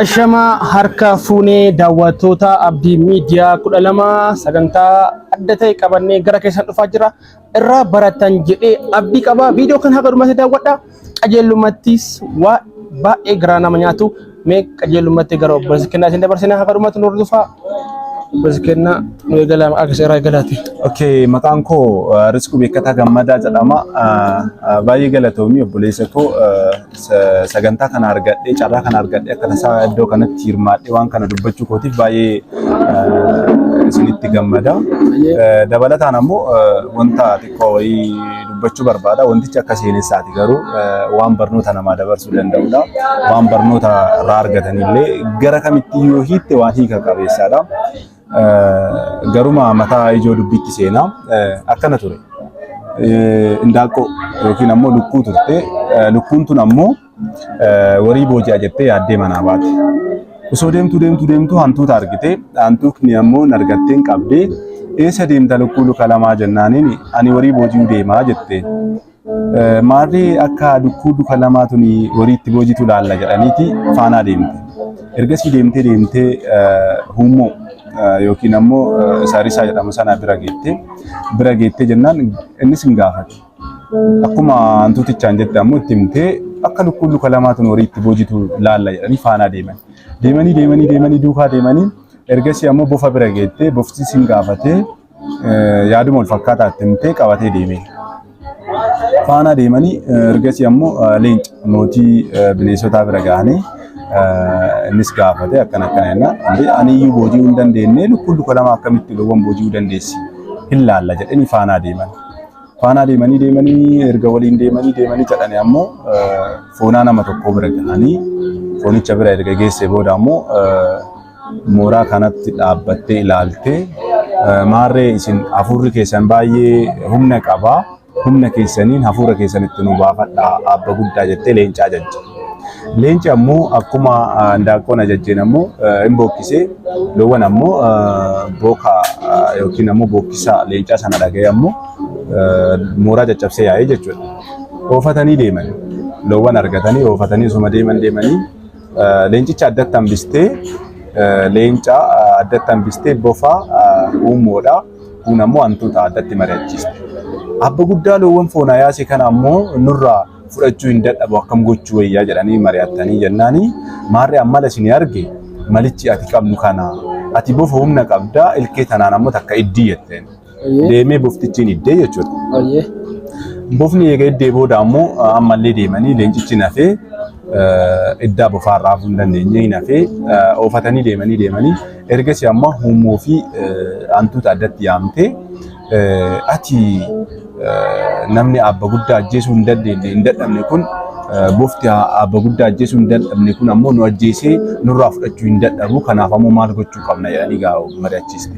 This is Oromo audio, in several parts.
Ashamaa harka fuunee daawwattoota Abdii Miidiyaa 12 sagantaa adda ta'e qabannee gara keessan dhufaa jira. Irraa baratan jedhee abdii qaba. Viidiyoo kan haga dhumatti daawwadha. Qajeelummattis waa baay'ee garaa nama nyaatu. Mee qajeelummatti gara obboleessa kennaa isin dabarsina haga dhumatti nu hordofaa. Obboleessa kennaa nu eegalaa maqaa keessa irraa eegalaati. Okay, maqaan koo uh, Risquu Beekataa Gammadaa jedhama. Uh, uh, Baay'ee galatoomi obboleessa koo uh, sagantaa kana argadhee carraa kana argadhee akka tasaa iddoo kanatti hirmaadhee waan kana dubbachuu kootiif baay'ee isinitti gammada. Dabalataan ammoo wanta xiqqoo wayii dubbachuu barbaada. Wantichi akka seenessaati garuu waan barnoota namaa dabarsuu danda'udha. Waan barnoota irraa argatanillee gara kamitti yoo hiitte waan hiika qabeessaadha. Garuma mataa ijoo dubbiitti seenaa akkana ture. Indaaqqoo yookiin ammoo lukkuu turte. Lukkuun tun ammoo warii booji'a jettee yaaddee manaa baate. Osoo deemtuu deemtuu deemtuu hantuuta argite. Hantuutni ammoo nargatteen qabdee eessa deemta lukkuu luka lamaa jennaaniin ani warii booji'uu deemaa jette. Maarri akka dukkuu duka lamaa tuni horii itti boojitu laalla jedhaniiti faanaa deemte. Ergasii deemtee deemtee huummoo yookiin ammoo saarisaa jedhamu sana bira geette. Bira geettee jennaan innis hin gaafate. Akkuma hantuutichaan jette ammoo itti himtee akka lukkuun luka lamaa tun horii itti boojitu laalla jedhanii faanaa deeman. Deemanii deemanii deemanii duukaa deemanii ergasii ammoo bofa bira geettee boftis hin gaafatee yaaduma wal fakkaataa itti himtee qabatee deeme. Faanaa deemanii ergasii ammoo leenca mootii bineensotaa bira ga'anii innis gaafate akkana akkana jennaan "Andee ani iyyuu booji'uu hin dandeenye lukkuun luka lama akkamitti loowwan booji'uu dandeessi hin laalla jedhanii faanaa deeman. Faanaa deemanii deemanii erga waliin deemanii deemanii jedhanii ammoo foonaa nama tokkoo bira ga'anii foonicha bira erga geessee booda ammoo mooraa kanatti dhaabbattee ilaalte maarree isin hafuurri keessan baay'ee humna qaba humna keessaniin hafuura keessan itti nu baafadha abba guddaa jettee leencaa jajje. Leenci ammoo akkuma handaaqqoon ajajjeen ammoo hin bookkisee loowwan ammoo booka yookiin ammoo bookkisa leencaa sana dhaga'ee ammoo mooraa caccabsee yaa'ee jechuudha. Oofatanii deeman loowwan argatanii oofatanii osuma deeman deemanii Leencicha addatti hambistee leenca addatti hambistee bofa uummoodha. Kun ammoo hantuuta addatti mari'achiisa. Abba guddaa loowwan foonaa yaase kana ammoo nurraa fudhachuu hin dadhabu akkam gochuu wayyaa jedhanii mari'attanii jennaani maarree ammala isin arge malichi ati qabnu kana ati bofa humna qabda ilkee tanaan ammoo takka iddii jetteen. Ayyee. deemee boftichi hin hiddee jechuudha. Ayyee. Bofni eega hiddee booda ammoo eh, ammallee deemanii leencichi hin hafee eh, iddaa bofaa irraa hafuu hin dandeenye hin hafee eh, oofatanii deemanii deemanii ergasii ammoo huummoo fi eh, hantuuta addatti yaamtee eh, ati eh, namni abba guddaa ajjeesuu hin dandeenye hin dadhabne kun eh, bofti ha- abba guddaa ajjeesuu hin dadhabne kun ammoo nu ajjeesee nurraa fudhachuu hin dadhabu kanaaf ammoo maal gochuu qabna jedhanii gaa mari'achiisa.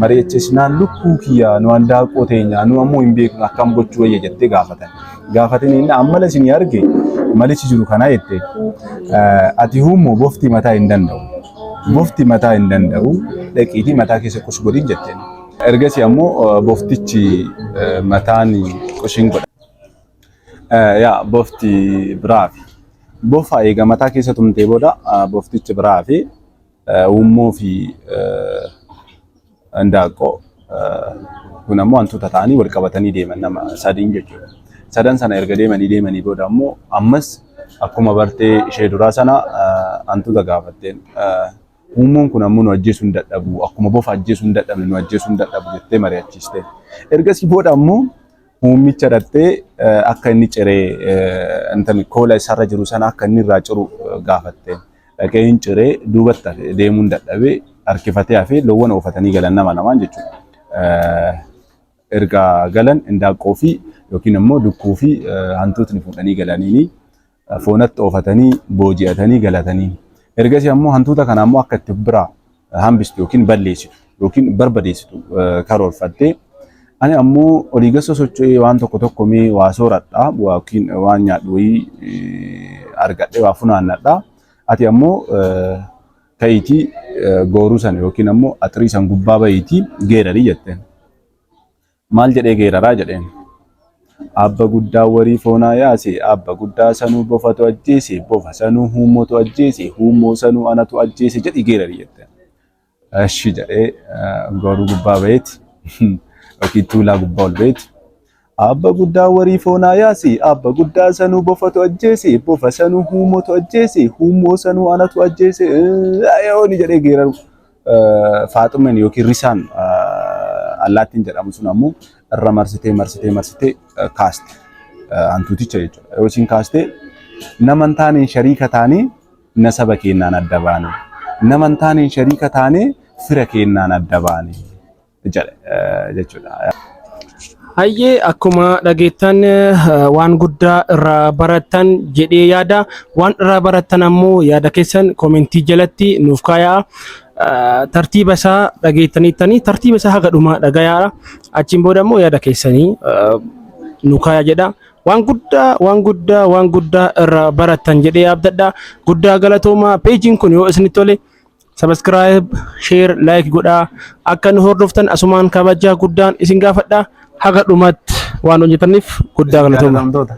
mari'achiisnaan lukkuu kiyyaa nu handaaqoo teenyaa nu ammoo hin beeknu akkam gochuu wayya jettee gaafatan. Gaafatin inni ammala isin arge malichi jiru kana jette ati huummoo bofti mataa hin danda'u. Bofti mataa hin danda'u dhaqiitii mataa keessa qus godhin jetteen. Ergasii ammoo boftichi mataan qushin godha. Yaa bofti biraafi. Bofa eega mataa keessa tumtee booda boftichi biraafi. Uummoo fi Handaaqqoo kun ammoo hantuuta ta'anii wal qabatanii deeman nama sadiin jechuudha. Sadan sana erga deemanii deemanii booda ammoo ammas akkuma bartee ishee duraa sana hantuuta gaafatteen uummoon kun ammoo nu ajjeesuu hin dadhabu akkuma bofa ajjeesuu hin dadhabne nu ajjeesuu hin dadhabu jettee mari'achiiste. Ergasii booda ammoo uummicha dhattee akka inni ciree koola isarra jiru sana akka inni irraa ciru gaafatte. dhaqee hin ciree duubatti hafe deemuun dadhabee harkifatee hafee loowwan oofatanii galan nama lamaan jechuudha. Erga galan indaaqqoo fi yookiin immoo dukkuu fi hantuutni fuudhanii galaniini foonatti oofatanii booji'atanii galatanii. Ergasii ammoo hantuuta kana ammoo akka itti biraa hambistu yookiin balleessitu yookiin barbadeessitu karoorfattee ani ammoo olii gasa socho'ee waan tokko tokko mee waa sooradha yookiin waan nyaadhu wayii argadhee waa funaannadha ati ammoo ka'iitii gooruu sana yookiin ammoo axrii san gubbaa ba'iitii geerarii jetteen. Maal jedhee geeraraa jedheen. Abba guddaa warii foonaa yaasi abba guddaa sanuu bofatu ajjeesi bofa sanuu huummotu ajjeesi huummoo sanuu anatu ajjeese jedhi geerari jette. Ashi jedhee goruu gubbaa baheeti yookiin tuulaa gubbaa ol baheeti. Abba guddaa warii foonaa yaasi abba guddaa sanuu bofatu ajjeesi bofa sanuu huummotu ajjeesi huummoo sanuu anatu ajjeese ayooni jedhee geeraru. Faaxumen yookiin risaan allaattiin jedhamu sun ammoo irra marsitee marsitee marsitee kaaste hantuuticha jechuudha. Yoo isin kaaste nama hin taaneen shariika taanee nasaba keennaan adda baane. Nama hin taaneen shariika taanee fira keennaan adda baane. jedhe eh, jechuudha. Hayyee akkuma dhageettan eh, waan guddaa irraa barattan jedhee yaada. Waan irraa barattan ammoo yaada keessan komentii jalatti nuuf kaayaa. Eh, Tartiiba isaa dhageettaniittanii tartiiba isaa haga dhumaa dhagayaa. Achiin booda ammoo yaada keessanii eh, nu kaayaa jedha. Waan guddaa waan guddaa waan guddaa irraa barattan jedhee abdadha. Guddaa galatoomaa peejiin kun yoo isinitti tole Subscribe, share, like godhaa. Akka nu hordoftan asumaan kabajaa guddaan isin gaafadha. Haga dhumatti waan hojjetaniif guddaa galatooma. Galatoomaa.